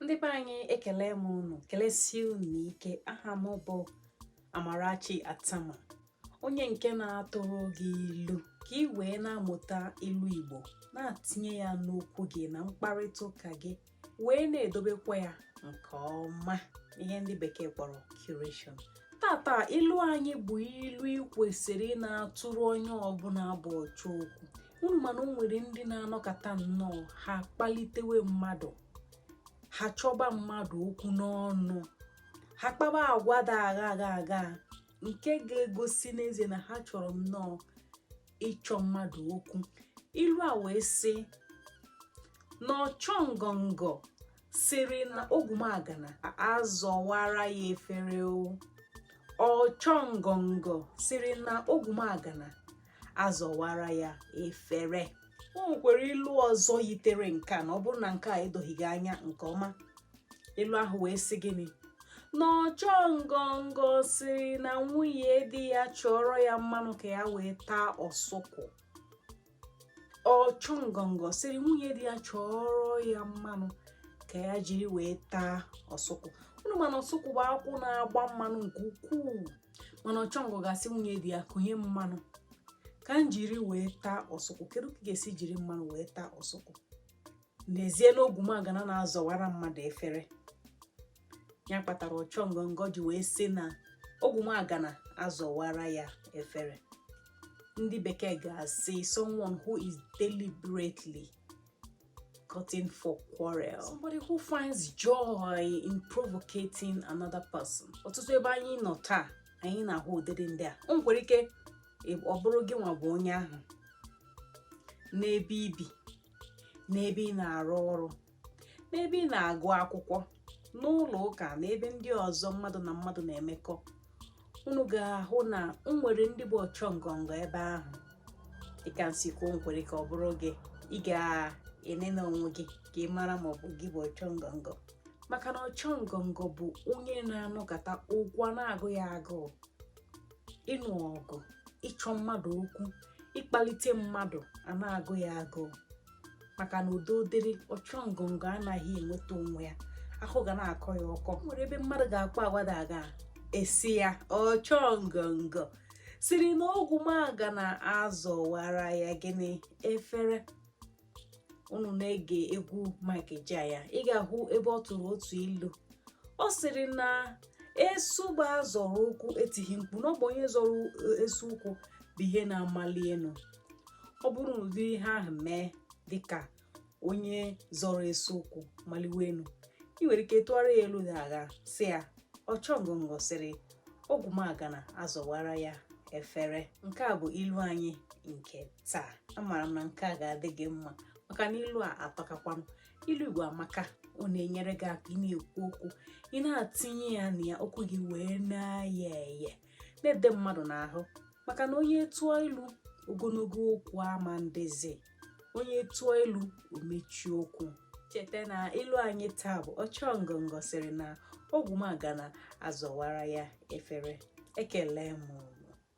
ndị be anyị ekele m unu kelesie unu ike aha m bụ Amarachi Attamah onye nke na-atụrụ gị ilu ka ị wee na-amụta ilu Igbo na-atinye ya n'okwu gị na mkparịta ụka gị wee na-edobekwa ya nke ọma ihe ndị bekee kpọrọ curation taa taa ilu anyị bụ ilu ị kwesịrị ị na-atụrụ onye ọbụla bụ ọchọ okwu unu ma na o nwere ndị na-anọkata nnọọ ha kpalitewe mmadụ ha chọba mmadụ okwu n'ọnụ ha kpaba agwa dị aghaa aghaa aghaa nke ga-egosi n'ezie na ha chọrọ nnọọ ịchọ mmadụ okwu ilu a wee sị na ọchọ ngọngọ sịrị na ogwumagana azọwara ya efere ọchọ ngọngọ sịrị na ogwumagana azọwara ya efere o nwekwara ilu ọzọ yitere nke a na ọ bụrụ na nke a edoghị gị anya nke ọma ilu ahụ wee sị gịnị na ọchọ ngọngọ sịrị na nwunye di ya chọọrọ ya mmanụ ka ya wee taa ọsụkwụ ọchọ ngọngọ sịrị nwunye di ya chọọrọ ya mmanụ ka ya jiri wee taa ọsụkwụ unu ma na ọsụkwụ bụ akwụ na-agba mmanụ nke ukwuu mana ọchọngọ ga-asị nwunye di ya kunye mmanụ ka m jiri wee taa ọsụkwụ kedu ka ị ga-esi jiri mmanụ wee taa ọsụkwụ n'ezie na ogwumagana na-azọwara mmadụ efere ya kpatara ọchọ ngọngọ ji wee sị na ogwumagana azọwara ya efere ndị bekee ga-asị someone who is deliberately courting for quarrel somebody who finds joy in provocating another person ọtụtụ ebe anyị nọ taa anyị na-ahụ ụdịdị ndị a o nwere ike ọ bụrụ gịnwa bụ onye ahụ n'ebe i bi n'ebe ị na-arụ ọrụ n'ebe ị na-agụ akwụkwọ n'ụlọ ụka na ebe ndị ọzọ mmadụ na mmadụ na-emekọ unu ga-ahụ na e nwere ndị bụ ọchọ ngọngọ ebe ahụ dịka m si kwuo o nwere ike ọ bụrụ gị ị ga-enene onwe gị ka ị mara ma ọ bụ gị bụ ọchọ ngọngọ maka na ọchọ ngọngọ bụ onye na-anọkata okwu a na-agụ ya agụụ ịnụ ọgụ ịchọ mmadụ okwu ịkpalite mmadụ a na-agụ ya agụụ maka na udo dịrị ọchọ ngọngọ anaghị enweta onwe ya ahụ ga na-akọ ya ọkọ o nwere ebe mmadụ ga-akpa agwa dị aghaa a sị ya ọchọ ngọngọ sịrị na ogwumagana azọwara ya gịnị efere unu na-ege egwu Mike Ejeagha ị ga-ahụ ebe ọ tụrụ otu ilu ọ sịrị na esu bụ a zọrọ ụkwụ etighi mkpu na ọ bụ onye zọrọ esu ụkwụ bụ ihe na-amali enu ọ bụrụ na ụdị ihe ahụ mee dịka onye chọrọ ese okwu maliwe elu ị nwere ike tụgharịa ya ilu na a ga-asị ya ọchọ ngọngọ sịrị ogwumagana azọwara ya efere nke a bụ ilu anyị nke taa amaara m na nke a ga-adị gị mma maka na ilu a atọkakwa m ilu igbo amaka ọ na-enyere gị aka ị na-ekwu okwu ị na-atinye ya na ya okwu gị wee na-eye eye na-ede mmadụ n'ahụ maka na onye tụọ ilu ogologo okwu ama adịzi onye tụọ ilu o mechie okwu cheta na ilu anyị taa bụ ọchọ ngọngọ sịrị na ogwumagana azọwara ya efere ekele m